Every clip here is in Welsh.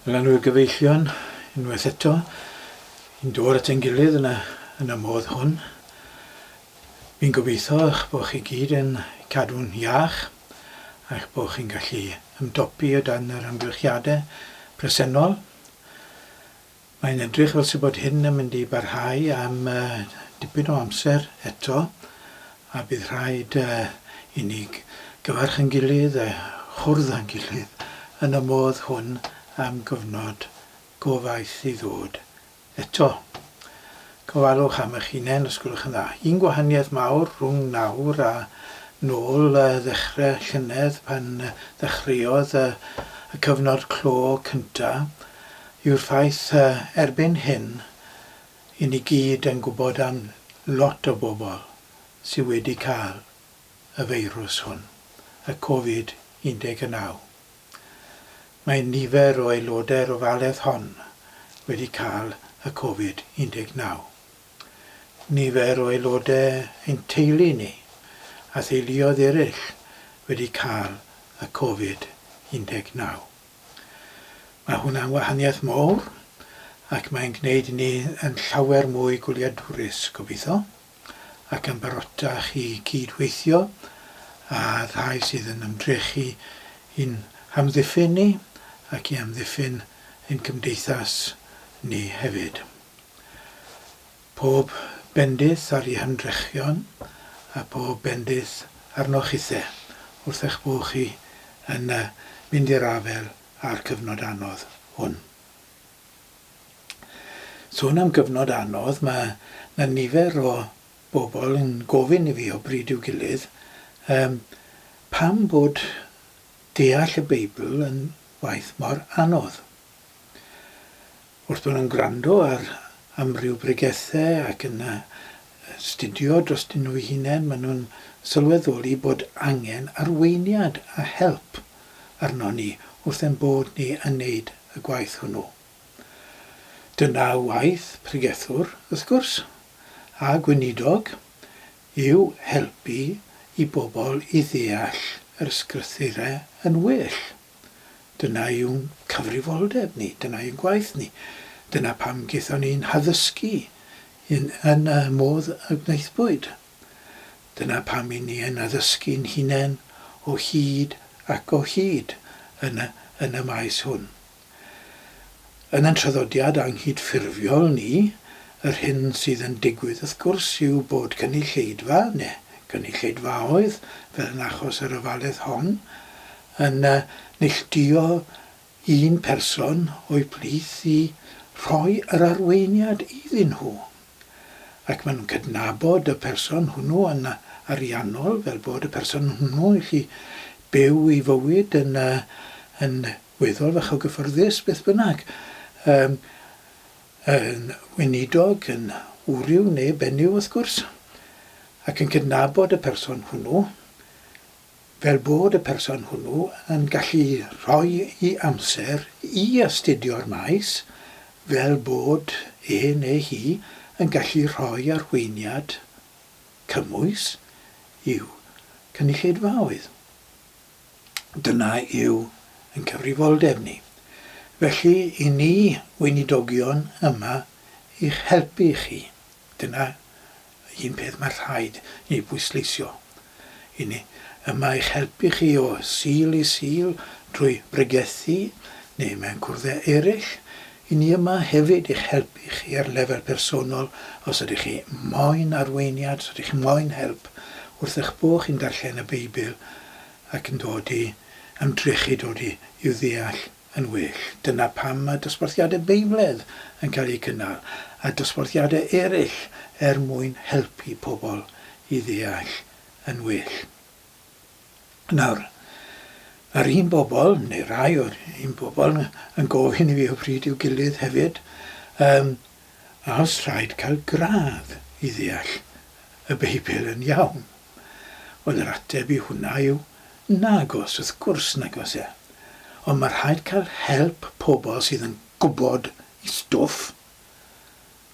Llanw'r gyfeillion unwaith eto, yn dod at ein gilydd yn y, yn y modd hwn. Fi'n gobeithio eich bod chi gyd yn cadw'n iach a'ch bod chi'n gallu ymdopi o dan yr amgylchiadau presennol. Mae'n edrych fel 'se bod hyn yn mynd i barhau am dipyn o amser eto, a bydd rhaid i ni gyfarch ein gilydd a chwrdd â'n gilydd yn y modd hwn am gyfnod go faith i ddod eto. Gofalwch am eich hunain os gwelwch yn dda. Un gwahaniaeth mawr rhwng nawr a nôl ddechrau llynedd pan ddechreuodd y cyfnod clo cyntaf, yw'r ffaith, erbyn hyn, i ni gyd yn gwybod am lot o bobl sydd wedi cael y feirws hwn, y Covid 19. Mae nifer o aelodau'r ofaledd hon wedi cael y Covid 19. Nifer o aelodau ein teulu ni a theuluoedd eraill wedi cael y Covid 19. Mae hwnna'n wahaniaeth mawr ac mae'n gwneud i ni yn llawer mwy gwyliadwrus, gobeithio, ac yn barotach i gyd-weithio â rhai sydd yn ymdrechu i'n hamddiffyn ni ac i amddiffyn ein cymdeithas ni hefyd. Pob bendith ar ei hymdrechion, a phob bendith arnoch chithe, wrth eich bod chi yn mynd i'r afael â'r cyfnod anodd hwn. Sôn am gyfnod anodd, mae 'na nifer o bobl yn gofyn i fi o bryd i'w gilydd, Yym, pam bod deall y Beibl yn waith mor anodd? Wrth fod yn gwrando ar amryw bregethau ac yn astudio drostyn nhw'u hunain, maen nhw'n sylweddoli bod angen arweiniad a help arnon ni wrth ein bod ni yn neud y gwaith hwnnw. Dyna waith pregethwr, wrth gwrs, a gweinidog, yw helpu i bobl i ddeall yr Ysgrythurau yn well. Dyna yw'n cyfrifoldeb ni, dyna yw gwaith ni. Dyna pam gaethon ni'n haddysgu yn yn y modd y gwnaethpwyd. Dyna pam y'n ni yn addysgu'n hunain o hyd ac o hyd yn y yn y maes hwn. Yn yn traddodiad anghydffurfiol ni, yr hyn sydd yn digwydd wrth gwrs yw bod cynulleidfa, neu gynulleidfaoedd, fel yn achos yr ofaledd hon, yn neilltuo un person o'u plith i roi yr arweiniad iddyn nhw, ac maen nhw'n cydnabod y person hwnnw yn ariannol fel bod y person hwnnw yn gallu byw ei fywyd yn yn weddol fach o gyffyrddus beth bynnag, yym yn weinidog, yn wryw neu benyw wrth gwrs, ac yn cydnabod y person hwnnw. fel bod y person hwnnw yn gallu rhoi'i amser i astudio'r maes, fel bod e neu hi yn gallu rhoi arweiniad cymwys i'w cynulleidfaoedd. Dyna yw ein cyfrifoldeb ni. Felly, i ni, Weinidogion, yma i'ch helpu chi. Dyna Un peth mae rhaid ei bwysleisio, i ni, y mae eich helpu chi o Sul i Sul drwy bregethu neu mewn cwrddau eraill, i ni yma hefyd i'ch helpu chi ar lefel personol os ydych chi moyn arweiniad, os ydych chi moyn help wrth eich bod chi'n darllen y Beibl ac yn dod i ymdrechu dod i'w ddeall. yn well. Dyna pam mae dosbarthiadau beibledd yn cael eu cynnal, a dosbarthiadau eraill er mwyn helpu pobl i ddeall yn well. Nawr, mae'r un bobl, neu rai o'r un bobl, yn gofyn i fi o bryd i'w gilydd hefyd, um, a os rhaid cael gradd i ddeall y Beibl yn iawn? Wel, yr ateb i hwnna yw, nagos, wrth gwrs nagos e. Ond mae rhaid cael help pobl sydd yn gwybod eu stwff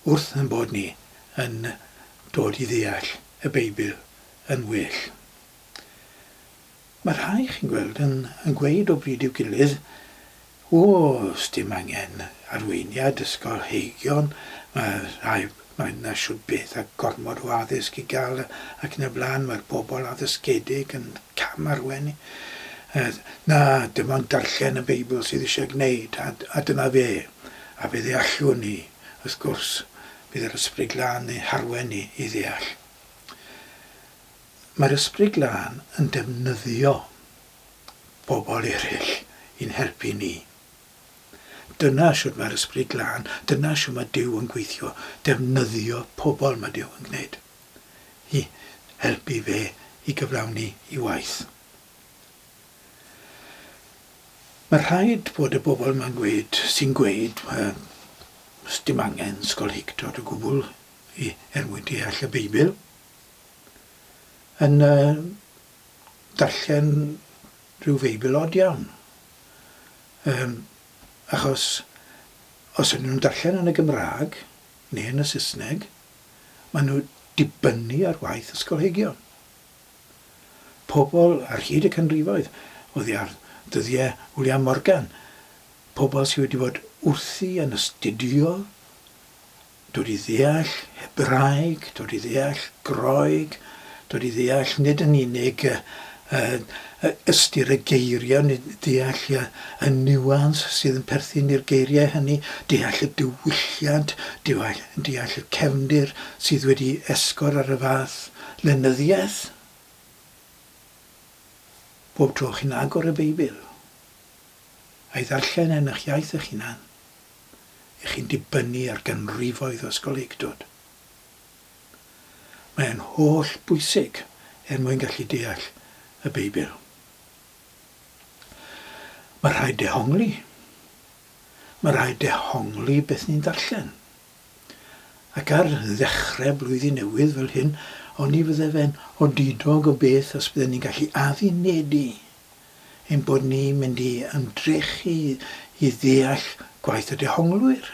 wrth ein bod ni yn dod i ddeall y Beibl yn well. Mae rhai, chi'n gweld, yn gweud o bryd i'w gilydd, 'O, 'sdim angen arweiniad ysgolheigion, mae rhai, mae 'na shwd beth a gormod o addysg i gael ac yn y blaen, mae'r bobl addysgedig yn cam-arwain ni. Na, dim ond darllen y Beibl sydd eisiau gwneud, a, a dyna fe. A fe ddeallwn ni, wrth gwrs, bydd yr Ysbryd Glân yn harwain ni i ddeall. Mae'r Ysbryd Glân yn defnyddio pobl eraill i'n helpu ni. Dyna shwt mae'r Ysbryd Glân, dyna shwt mae Duw yn gweithio, defnyddio pobl mae Duw yn gwneud i helpu fe i gyflawni i waith. Mae rhaid bod y bobl mae'n gweud, sy'n gweud, sdim angen sgolheictod o gwbl i er mwyn deall y Beibl. yn yy darllen rhyw feibl od iawn yym achos os ydyn nhw'n darllen yn y Gymraeg neu yn y Saesneg ma' nhw dibynnu ar waith ysgolheigion. Pobl ar hyd y canrifoedd oddi ar ddyddie Wliam Morgan, pobl sy wedi bod wrthi yn astudio Dod i ddeall Hebraeg, dod i ddeall Groeg, dod i ddeall nid yn unig y, y, y ystyr y geiriau, nid deall y, y nuans sydd yn perthyn i'r geiriau hynny, deall y diwylliant, deall, deall y cefndir sydd wedi esgor ar y fath lenyddiaeth. Bob tro chi'n agor y Beibl, a'i ddarllen yn eich iaith eich hunan, ych chi'n dibynnu ar ganrifoedd o ysgolheictod. Mae e'n holl bwysig er mwyn gallu deall y Beibl. Mae rhaid dehongli. Mae rhaid dehongli beth ni'n darllen. Ac ar ddechrau blwyddyn newydd fel hyn, oni fydde fe'n odidog o beth os bydden ni'n gallu addunedig ein bod ni'n mynd i ymdrechu i ddeall gwaith y dehonglwyr,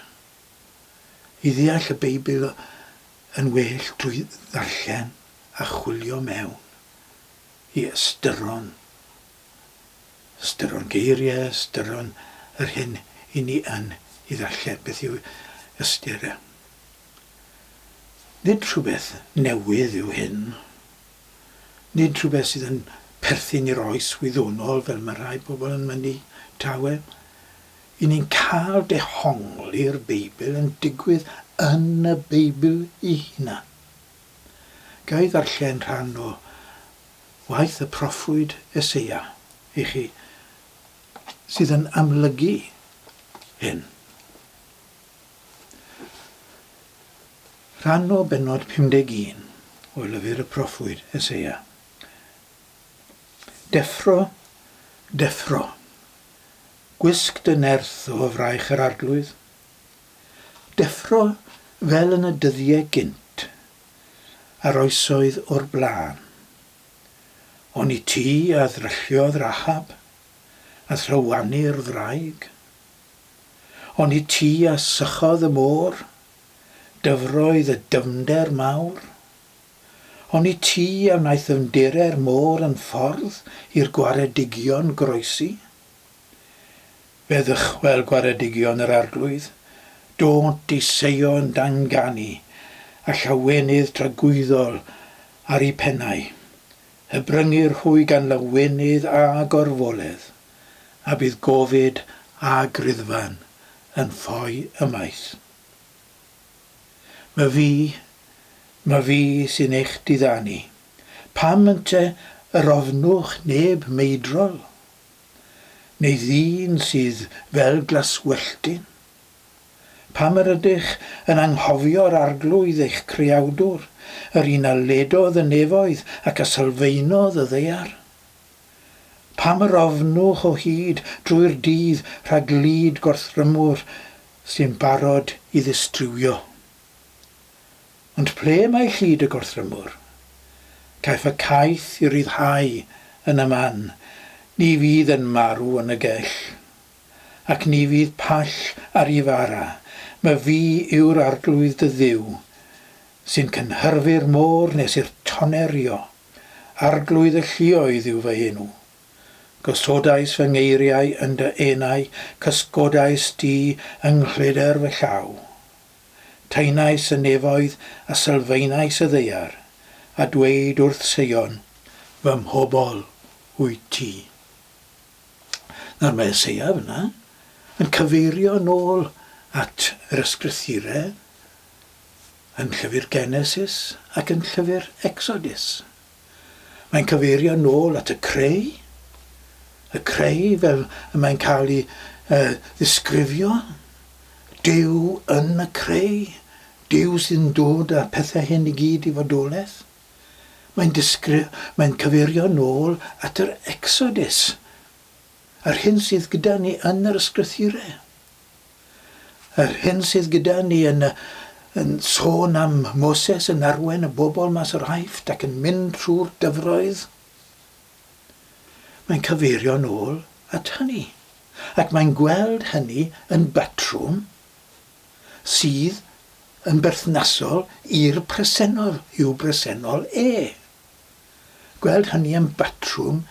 i ddeall y Beibl yn well drwy ddarllen a chwilio mewn i ystyron, ystyron geiriau, ystyron yr hyn i ni yn ei ddarllen. Beth yw ystyr? Nid rhywbeth newydd yw hyn. Nid rhywbeth sydd yn perthyn i'r oes wyddonol fel mae rhai pobl yn mynnu, tawel. Y ni'n cael dehongli'r Beibl yn digwydd yn y Beibl ei hunan. Ga i ddarllen rhan o waith y proffwyd Eseia i chi sydd yn amlygu hyn? Rhan o bennod 51 o lyfr y proffwyd Eseia. Deffro, deffro, gwisg dy nerth o fraich yr arglwydd. Deffro fel yn y dyddiau gynt, a'r oesoedd o'r blaen. Oni ti a ddrylliodd Rahab, a thlywani'r wraig? On' i ti a sychodd y môr, dyfroedd y dyfnder mawr? On' i ti a wnaeth ddyfndere'r môr yn ffordd i'r gwaredigion groesi? Fe ddychwel gwaredigion yr arglwydd, dônt i Seion danganu, a llawenydd tragwyddol ar 'u pennau. Y bryngyr hwy gan lawenydd a gorfoledd. a bydd gofid a griddfan yn ffoi ymaith. Ma fi, ma fi sy'n eich diddanu. Pam ynte yr ofnwch neb meidrol? Neu ddyn sydd fel glaswelltyn? Pam yr ydych yn anghofio'r Arglwydd eich Creawdwr, yr un a ledodd y nefoedd ac a sylfaenodd y ddaear? Pam yr ofnwch o hyd drwy'r dydd rhag lid gorthrymwr sy'n barod i ddistriwio? Ond ple mae llid y gorthrymwr? Caiff y caeth i ryddhau yn y man, ni fydd yn marw yn y gell. Ac ni fydd pall ar i fara, my fi yw'r arglwydd dy Dduw, sy'n cynhyrfu'r môr nes i'r toner rio. Arglwydd y lluoedd yw fy enw. Gosodais fy ngeiriau yn dy enau, cysgodais di yng nghleder fy llaw. Taenais y nefoedd a sylfaenais y ddaear, a dweud wrth Seion, Fy mhobl wyt ti. Nawr mae Eseia fyna yn cyfeirio nôl at yr Ysgrythurau, Yn Llyfr Genesis ac yn Llyfr Ecsodus, mae'n cyfeirio yn ôl at y creu, y creu fel y mae'n cael ei uh, ddisgrifio, Duw yn y creu, Duw sy'n dod â pethau hyn i gyd i fodolaeth. Mae'n disgri- mae'n cyfeirio yn ôl at yr Ecsodus, yr hyn sydd gyda ni yn yr ysgrythurau. Yr hyn sydd gyda ni yn y yn sôn am Moses yn arwain y bobl mas o'r Aifft ac yn mynd trwy'r dyfroedd, mae'n cyfeirio'n ôl at hynny, ac mae'n gweld hynny yn batrwm sydd yn berthnasol i'r presennol, i'w bresennol e. Gweld hynny yn batrwm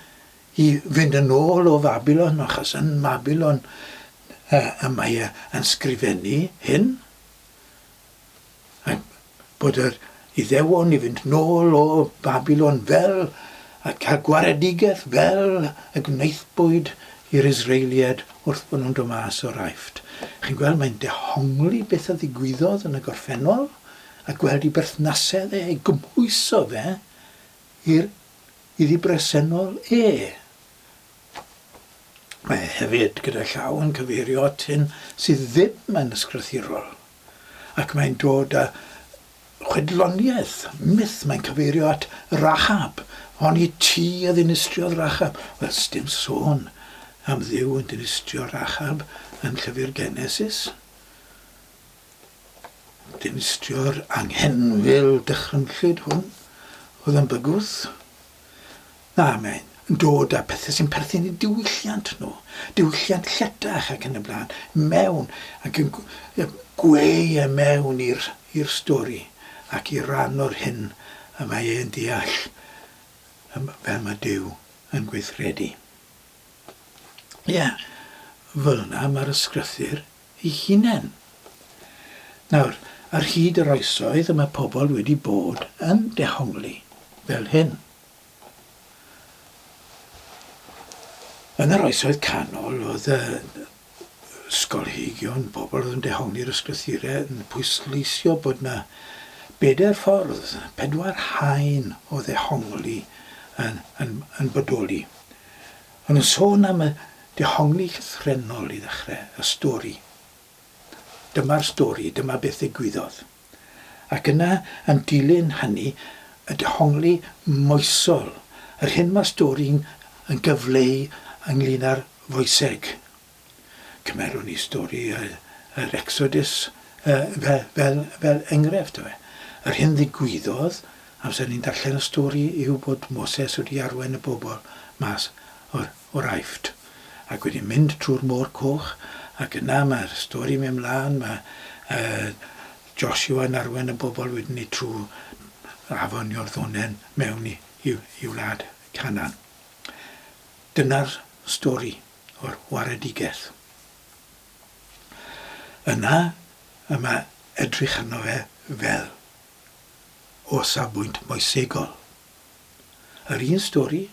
i fynd yn ôl o Fabilon, achos yn Mabilon uh, y mae e yn sgrifennu hyn, a bod yr iddewon i fynd nôl o Babilon fel a cael gwaredigaeth fel y gwnaethbwyd i'r Israeliad wrth bod nhw'n dod mas o'r aifft. Chi'n gweld, mae'n dehongli beth a ddigwyddodd yn y gorffennol, a gweld i berthnasedd e, ei gymhwyso fe Hir iddi bresennol e. Mae hefyd gyda llaw yn cyfeirio at hyn sydd ddim yn ysgrythurol, ac mae'n dod â chwedloniaeth, myth, mae'n cyfeirio at Rahab, honni ti a ddinistriodd Rahab. Wel, sdim sôn am Dduw yn dinistrio Rahab yn llyfr Genesis. Dinistio'r anghenfil dychrynllyd hwn oedd yn bygwth. Na, mae'n dod â pethau sy'n perthyn i diwylliant nhw, diwylliant lletach ac yn y blaen, mewn ac yn gweu e mewn i'r stori ac i ran o'r hyn y mae e'n deall fel mae Duw yn gweithredu. Ie, fel yna mae'r Ysgrythur ei hunain. Nawr, ar hyd yr oesoedd y mae pobl wedi bod yn dehongli fel hyn. Yn yr oesoedd canol oedd y sgolheigion, pobl oedd yn dehongli'r ysgrythurau, yn pwysleisio bod yna bedair ffordd, pedwar haen o ddehongli yn, yn, yn bodoli. Maen nhw'n sôn am y dehongli llythrennol i ddechrau y stori. Dyma'r stori, dyma beth ddigwyddodd. Ac yna, yn dilyn hynny, y dehongli moesol, yr hyn mae'r stori'n yn gyfleu ynglŷn â'r foeseg. Cymerwn ni stori yr Exodus fel enghraifft. Yr hyn ddigwyddodd amser ni'n darllen y stori yw bod Moses wedi arwain y bobl mas o'r Aifft ac wedi mynd trwy'r Môr Coch ac yna mae'r stori'n mynd mlaen, mae Joshua'n arwain y bobl wedyn ni trwy afon Iorddonen mewn i wlad Canan. Dyna'r stori. o'r waredigaeth. Yna y mae edrych arno fe fel o safbwynt moesegol. Yr un stori,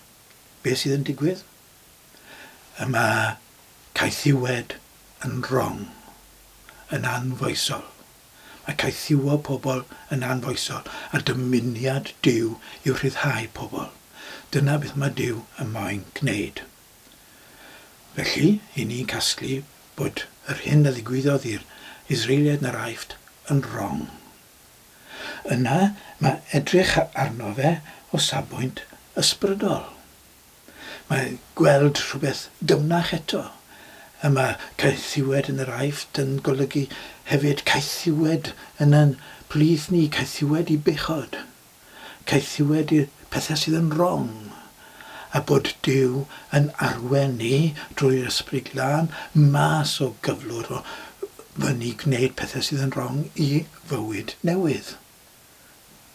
beth sydd yn digwydd? Y mae caethiwed yn wrong, yn anfoesol. Mae caethiwo pobl yn anfoesol a dymuniad Duw yw rhyddhau pobl. Dyna beth mae Duw yn moyn gwneud. Felly, i ni casglu bod yr hyn a ddigwyddodd i'r Israeliaid yn yr Aifft yn rong. Yna mae edrych arno fe o safbwynt ysbrydol. Mae gweld rhywbeth dyfnach eto. A mae caethiwed yn yr Aifft yn golygu hefyd caethiwed yn ein plith ni, caethiwed i bechod. caethiwed i'r pethau sydd yn wrong, a bod Duw yn arwen ni drwy'r Ysbryd Glân mas o gyflwr o fyny gwneud pethau sydd yn wrong i fywyd newydd,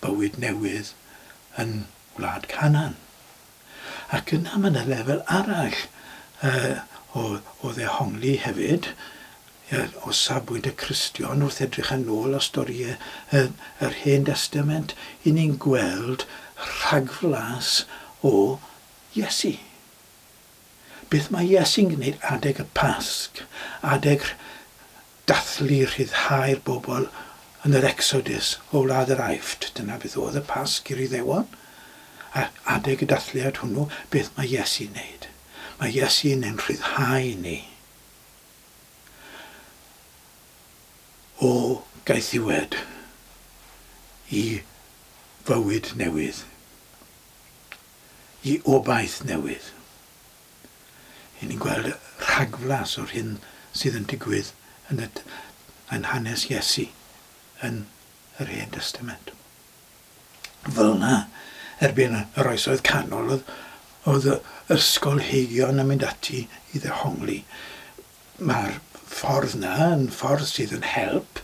bywyd newydd yn Wlad Canan. Ac yna mae 'na lefel arall yy o o ddehongli hefyd yy o safbwynt y Cristion wrth edrych yn ôl ar storïe yy yr Hen Destament 'yn ni'n gweld rhagflas o Iesu. Beth mae Iesu'n gneud adeg y Pasg, adeg Dathlu rhyddhau'r bobl yn yr Ecsodus o wlad yr Aifft. Dyna beth oedd y Pasg i'r Iddewon. A adeg y dathliad hwnnw, beth mae Iesu'n wneud? Mae Iesu'n ein rhyddhau ni o gaethiwed i fywyd newydd, i obaith newydd. Ry'n ni'n gweld rhagflas o'r hyn sydd yn digwydd yn y yn hanes Iesu yn yr Hen Destament. Fel yna, erbyn yr Oesoedd Canol, oedd ysgolheigion yn mynd ati i ddehongli Mae'r ffordd 'na yn ffordd sydd yn help,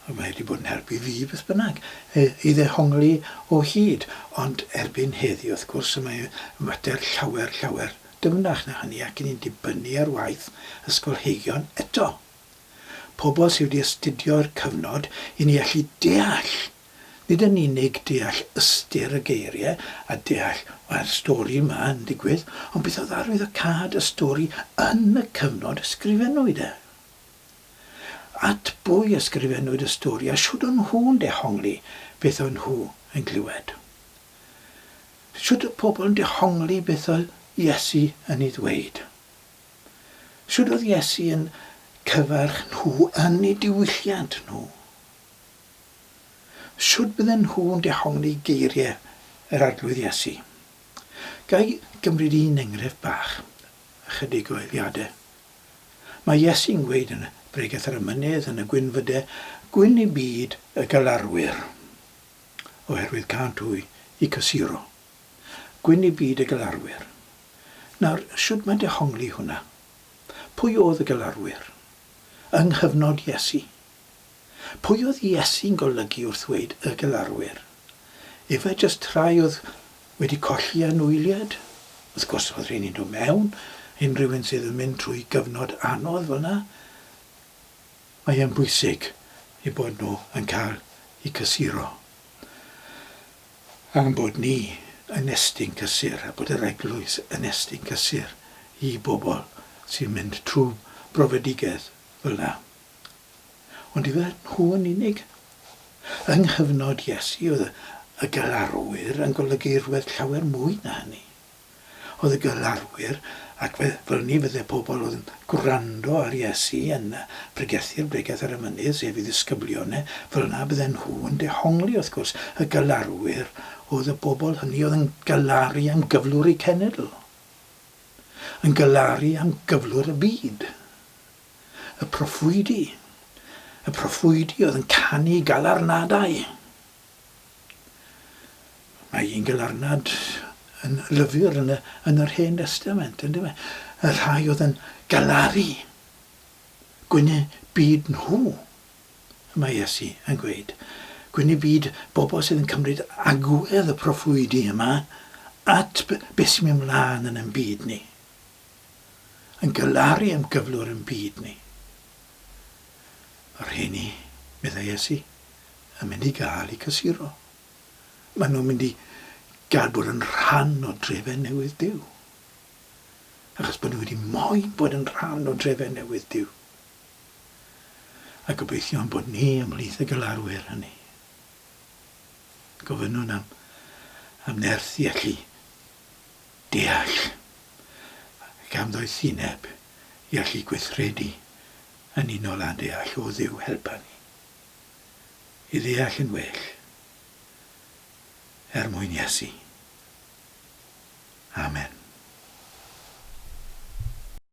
mae wedi bod yn help i fi beth bynnag, i ddehongli o hyd. Ond erbyn heddiw, wrth gwrs, y mae y mater llawer, llawer dyfnach na hynny ac ni'n dibynnu ar waith ysgolheigion eto. Pobl sydd wedi astudio'r cyfnod i ni allu deall Nid yn unig deall ystyr y geiriau a deall mae'r stori yma yn digwydd, ond beth oedd arwyddocâd y stori yn y cyfnod ysgrifennwyd e? At bwy ysgrifennwyd y stori a shwd o'n nhw'n dehongli beth o'n nhw yn glywed? Shwd oedd pobl yn dehongli beth oedd Iesu yn ei ddweud? Shwd oedd Iesu yn cyfarch nhw yn eu diwylliant nhw? Sut bydden nhw'n dehongli geiriau yr Arglwydd Iesu? Ga i gymryd un enghraifft bach, ychydig o eiliadau? Mae Iesu'n gweud yn Bregeth ar y Mynydd yn y gwynfydau gwyn i byd y galarwyr, oherwydd cânt hwy i cysuro. Gwyn i byd y galarwyr. Nawr, sut mae dehongli hwnna? Pwy oedd y galarwyr? Yng nghyfnod Iesu. Pwy oedd Iesu'n golygu wrth ddweud y galarwyr? Efe jyst rhai oedd wedi colli anwyliad? Wrth gwrs, oedd rheini'n dod mewn, unrhyw un sydd yn mynd trwy gyfnod anodd fel yna, mae e'n bwysig eu bod nhw yn cael eu cysuro. A'n bod ni yn estyn cysur, a bod yr Eglwys yn estyn cysur i bobl sy'n mynd trwy brofedigaeth fel yna. Ond ife nhw yn unig? Yng nghyfnod Iesu, oedd y galarwyr yn golygu rhywbeth llawer mwy na hynny. Oedd y galarwyr, ac fe ddylwn fydde pobl oedd yn gwrando ar Iesu yn pregethu'r Bregeth ar y Mynydd, sef ei ddisgyblion e, fel yna bydden nhw yn dehongli, wrth gwrs, y galarwyr oedd y bobl hynny oedd yn galaru am gyflwr eu cenedl, yn galaru am gyflwr y byd. Y proffwydi, y proffwydi oedd yn canu galarnadau. Mae un galarnad yn lyfr yn, y, yn yr Hen Testament, yn dyma. E? Y rhai oedd yn galaru gwynnu byd nhw, y mae Iesu yn gweud. Gwynnu byd bobl sydd yn cymryd agwedd y proffwydi yma at beth sy'n mynd mlaen yn ein byd ni. yn galaru am gyflwr yn byd ni. Y rheini, meddai Iesu, yn mynd i gael eu cysuro. Maen nhw'n mynd i gael bod yn rhan o drefedd newydd Duw. Achos bod nhw wedi moyn bod yn rhan o drefedd newydd Duw. A gobeithio am bod ni ymhlith y galarwyr hynny. Gofynnwn am, am nerth i allu deall, ac am ddoethineb i allu gweithredu yn unol â'n deall o Dduw helpa ni i ddeall yn well er mwyn Iesu. Amen.